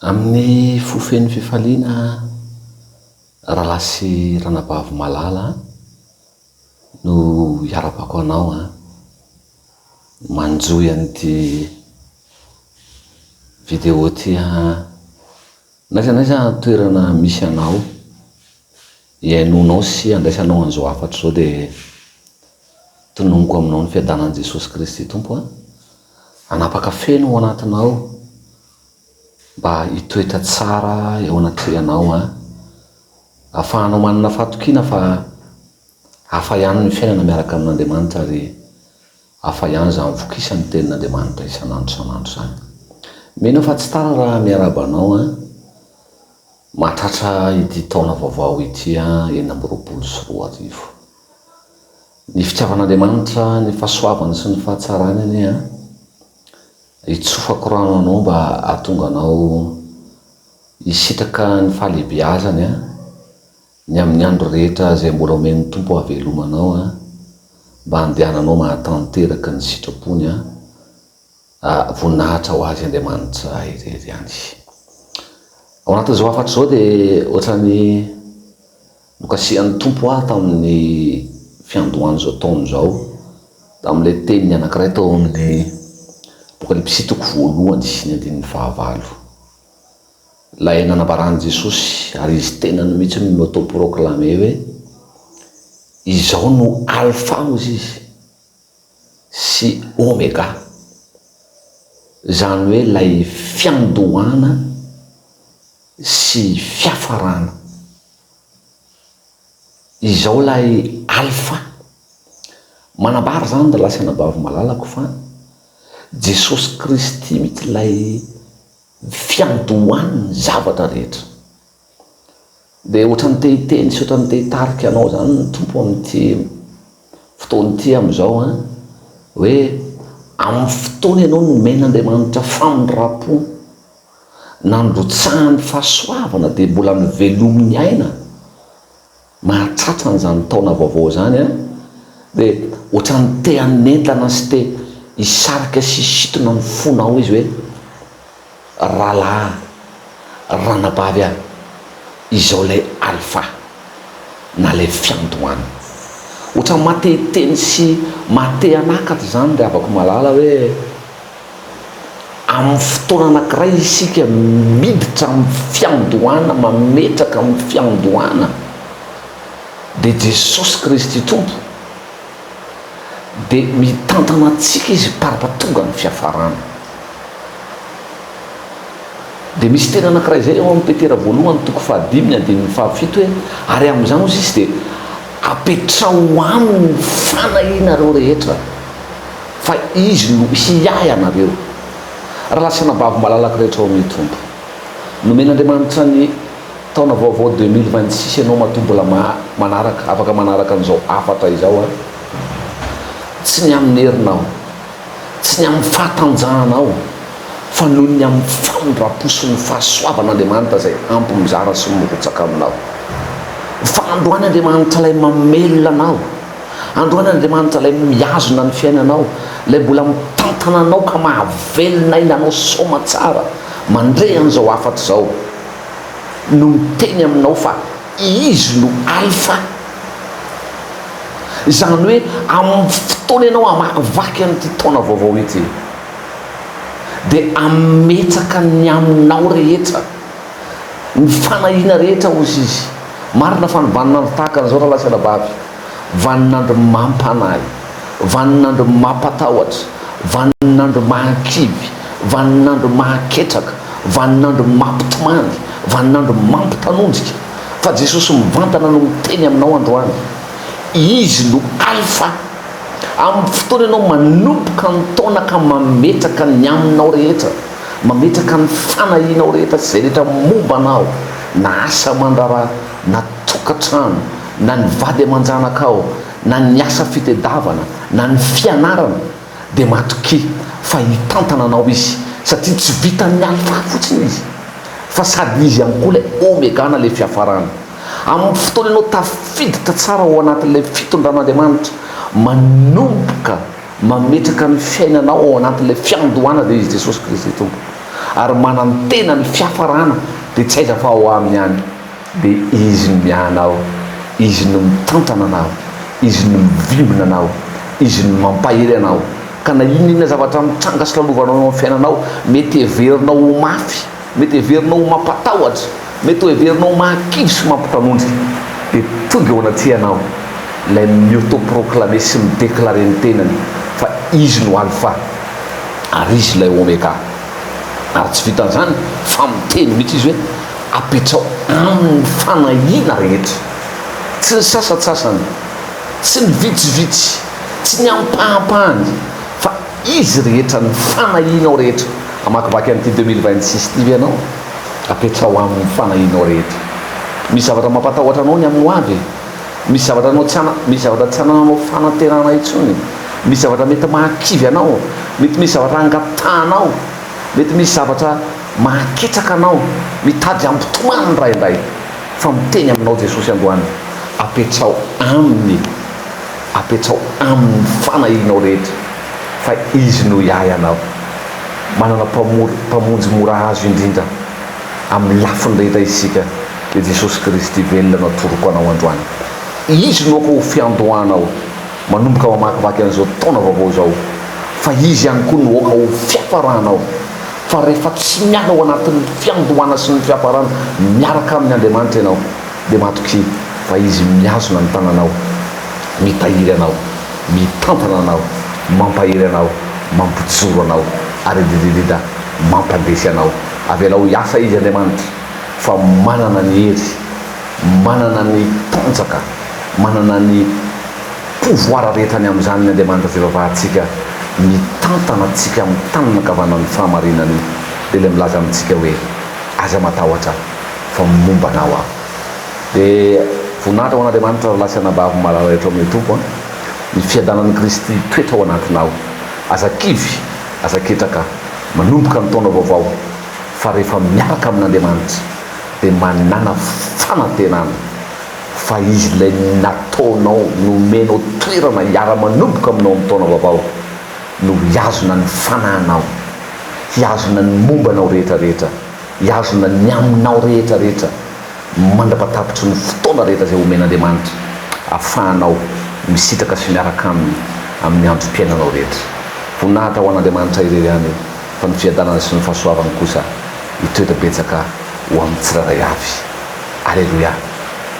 Amin'ny fo feno fifaliana Rahalahy sy Ranabavy malala an, no hiarabako anao an, manjohy an'ity video ity an, n'aiza n'aiza toerana misy anao. Ihainoanao sy handraisanao an'izao hafatra izao dia tononiko aminao ny fiadanan'i Jesosy Kristy Tompo a! Hanapaka feno ao anatinao mba hitoetra tsara eo anatrehanao a! Afahanao manana fahatokiana fa hafa ihany ny fiainana miaraka amin'Andriamanitra ary hafa ihany izany vokisan'ny tenin'Andriamanitra isan'andro isan'andro izany. Mino aho fa tsy tara raha miarahaba anao a! Mahatratra ity taona vaovao ity enina amby roapolo sy roa arivo. Ny fitiavan'Andriamanitra, ny fahasoavany sy ny fahatsarany anie an! Hitsofako rano anao mba hahatonga anao hisitraka ny fahalehibeazany an! Ny amin'ny andro rehetra izay mbola omen'ny Tompo hahaveloma anao an! Mba handehananao mahatanteraka ny sitrapony an! voninahitra ho Azy Andriamanitra irery ihany. Ao anatin'izao hafatra izao dia ohatran'ny nokasihan'ny Tompo ahy tamin'ny fiandohan'izao taona izao, tamin'ilay teniny anankiray tao amin'ny Apokalypsy toko voalohany ny andininy fahavalo. Ilay nanambaran'i Jesosy ary Izy tenany mihitsy no ni-auto-proclame hoe, Izao no Alfa hozy Izy, sy Omega, izany hoe ilay fiandohana sy fiafarana. Izao ilay Alfa. Manambara izany ry lahy sy anabavy malalako fa Jesosy Kristy mihitsy ilay fiandohan'ny zavatra rehetra. Dia ohatran'ny te hiteny sy ohatran'ny te hitarika anao izany ny Tompo amin'ity fotoana ity amin'izao an, hoe amin'ny fotoana ianao nomen'Andriamanitra famindram-po, nandrotsahany fahasoavana dia mbola novelominy aina, Mahatsatsa an'izany taona vaovao izany aho dia ohatran'ny te hanentana sy te hisarika sy hisintona ny fonao izy hoe, Rahalahy an, ranabavy an, izao ilay Alfa na ilay Fiandohana. Ohatran'ny maha-te hiteny sy maha-te hanakatra izany ry havako malala hoe, Amin'ny fotoana anankiray isika miditra amin'ny fiandohana mametraka amin'ny fiandohana dia Jesosy Kristy Tompo dia mitantana antsika Izy parpa tonga ny fiafarana. Dia misy teny anankiray izay ao amin'ny Petera voalohany toko fahadimy ny andininy fahafito hoe ary amin'izany hozy Izy dia apetraho aminy ny fanahianareo rehetra. Fa Izy no hiahy anareo. Raha lasanà babo malalaka rehetra ao amin'ny Tompo. Nomen'Andriamanitra ny taona vaovao deux mille vingt six ianao matoa mbola maha manaraka afaka manaraka an'izao hafatra izao a! Tsy ny amin'ny herinao, tsy ny amin'ny fahatanjahanao fa noho ny amin'ny famindram-po sy ny fahasoavan'Andriamanitra izay ampy mizara sy mirotsaka aminao. Fa androany Andriamanitra ilay mamelona anao. Androan'Andriamanitra, Ilay mihazona ny fiainanao, Ilay mbola mitantana anao ka mahavelona aina anao soamantsara mandre an'izao hafatra izao, no miteny aminao fa Izy no Alfa. Izany hoe amin'ny fotoana ianao hamahavaky an'ity taona vaovao ity, dia hametsaka ny aminao rehetra. Ny fanahiana rehetra hozy izy. Marina fa ny vaninandro tahaka an'izao ralahy-sy-anabavy, vaninandro mampanahy, vaninandro mampatahotra, vaninandro mahakivy, vaninandro mahaketraka, vaninandro mampitomany, vaninandro mampitanondrika. Fa Jesosy mivantana no miteny aminao androany. Izy no Alfa. Amin'ny fotoana ianao manomboka ny taona ka mametraka ny aminao rehetra. Mametraka ny fanahianao rehetra sy izay rehetra momba anao, na asa aman-draharaha, na tokantrano, na ny vady aman-janakao, na ny asa fitedavana, na ny fianarana, dia matokia fa hitantana anao Izy, satria tsy vitan'ny Alfa fotsiny Izy, fa sady Izy ihany koa ilay Omega na ilay Fiafarana. Amin'ny fotoana ianao tafiditra tsara ao anatin'ilay fitondran'Andriamanitra, manomboka Mametraka ny fiainanao ao anatin'ilay fiandohana dia Izy Jesosy Kristy Tompo ary manantena ny fiafarana dia tsy aiza fa ao Aminy ihany dia Izy no miahy anao, Izy no mitantana anao, Izy no mivimbina anao, Izy no mampahery anao ka na inona inona zavatra mitranga sy lalovanao eo amin'ny fiainanao mety heverinao ho mafy Mety heverinao ho mampatahotra, mety ho heverinao ho mahakivy sy mampitanondrika, dia tonga eo anatrehan aho ilay mi-auto-proclamer sy mi-declarer ny tenany fa Izy no Alpha ary Izy ilay Omega. Ary tsy vitan'izany fa miteny mihitsy Izy hoe, Apetraho Aminy ny fanahiana rehetra. Tsy ny sasantsasany, tsy ny vitsivitsy, tsy ny ampahampahany, fa. Izy rehetra ny fanahianao rehetra. Hamakivaky an'ity deux mille vingt six ity ve ianao? Apetraho aminy ny fanahianao rehetra. Misy zavatra mampatahotra anao ny amin'ny ho avy e. Misy zavatra anao tsy ana, misy zavatra tsy anananao fanantenana intsony e. Misy zavatra mety mahakivy anao, mety misy zavatra hangatahanao, mety misy zavatra mahaketraka anao, mitady hampitomany indraindray. Fa miteny aminao Jesosy androany, apetraho Aminy e. Apetsao Aminy ny fanahianao rehetra, fa Izy no hiahy anao. Manana Mpamory, Mpamonjy mora azo indrindra amin'ny lafiny rehetra isika, dia Jesosy Kristy velona no atoroko anao androany. Izy no ho fiandohanao manomboka mamakivaky an'izao taona vaovao izao, fa Izy ihany koa no hoka ho fiafaranao, fa rehefa tsy miala ao anatin'ny fiandohana sy ny fiafarana miaraka amin'Andriamanitra ianao, Dia matoky fa Izy mihazona ny tananao, mitahiry anao, mitantana anao, mampahery anao, mampijoro anao, ary dididida, mampandresy anao. Avelao hiasa Izy, Andriamanitra, fa manana ny hery, manana ny tanjaka, manana ny pouvoir rehetra ny amin'izany ny Andriamanitra fivavahantsika, mitantana antsika amin'ny tanana ankavanan'ny fahamarinany, dia ilay milaza amintsika hoe, Aza matahotra. fa momba anao aho. Dia voninahitra ho an'Andriamanitra rahalahy sy anabavy malala rehetra ao amin'ny Tompo an! Ny fiadanan'i Kristy hitoetra ao anatinao. Aza kivy, aza ketraka, manomboka ny taona vaovao fa rehefa miaraka amin'Andriamanitra dia manana fanantenana fa Izy ilay nataonao, nomenao toerana hiara-manomboka aminao amin'ny taona vaovao no hihazona ny fanahinao, hihazona ny momba anao rehetra rehetra. Hihazona ny aminao rehetra rehetra mandra-patapitry ny fotoana rehetra izay homen'Andriamanitra ahafahanao misitraka sy miaraka Aminy amin'ny androm-piainanao rehetra. Voninahitra ho an'Andriamanitra irery ihany fa ny fiadanana sy ny fahasoavany kosa hitoetra betsaka ho amin'ny tsirairay avy. Aleloia.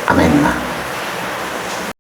Amena.